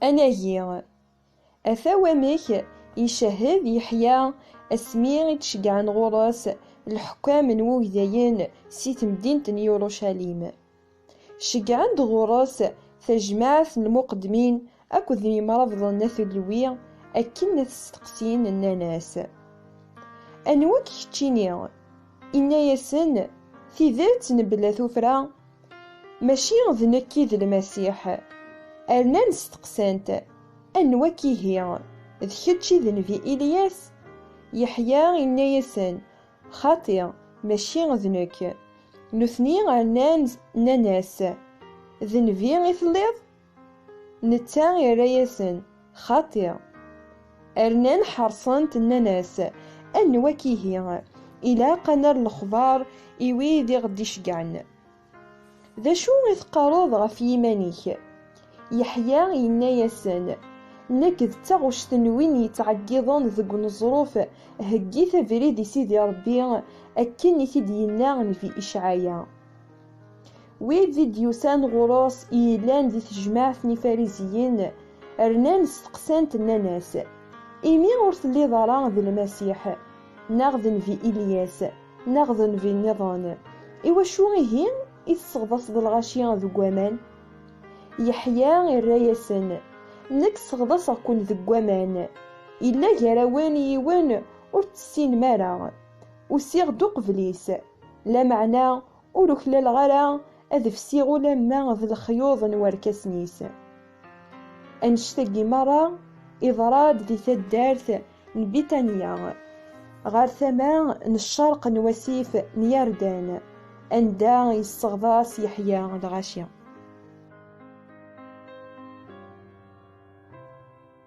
Anagi, ata wamek icehhed Yeḥya asmi i d-ceggɛen ɣur-s lḥukkam n wugdayen si temdint n Yurucalim. Ceggɛen-d ɣur-s tajmaɛt n lmuqeddmin Akked n yimrabḍen n At Ulwi akken ad t-steqsin, nnan-as, Anwa-k keččini? Inna-yasen, Tidet mebla tuffra, mačči d nekk i d Lmasiḥ. Rnan steqsan-t, Anwa-k ihi? D kečč i d nnbi Ilyas? Yeḥya inna-yasen, Xaṭi, mačči d nekk. Nutni rnan, nnan-as, D nnbi i telliḍ? Netta irra-yasen, Xaṭi. Rnan ḥeṛṣen-t, nnan-as, Anwa-k ihi? Ilaq ad nerr lexbaṛ i wid i ɣ-d-iceggɛen. D acu i teqqaṛeḍ ɣef yiman-ik? Yeḥya yenna-yasen, Nekk d taɣect n win yettɛeggiḍen deg uneẓruf, Heggit abrid i Sidi Ṛebbi, akken i t-id-yenna Nnbi Icɛaya. Wid i d-yusan ɣur-s i yellan di tejmaɛt n Ifariziyen, rnan steqsan-t nnan-as, Imi ur telliḍ ara d Lmasiḥ, neɣ d nnbi Ilyas, neɣ d nnbi nniḍen, iwacu ihi i tesseɣḍaseḍ lɣaci deg waman? Yeḥya irra-yasen, Nekk sseɣḍaseɣ-ken deg waman, yella gar-awen yiwen ur t-tessinem ara, Usiɣ-d uqbel-is, lameɛna ur uklaleɣ ara ad fsiɣ ulamma d lexyuḍ n warkasen-is. Annect-agi merra iḍra-d di taddart n Bitanya, ɣer tama n ccerq n wasif n Yardan, anda yesseɣḍas Yeḥya lɣaci.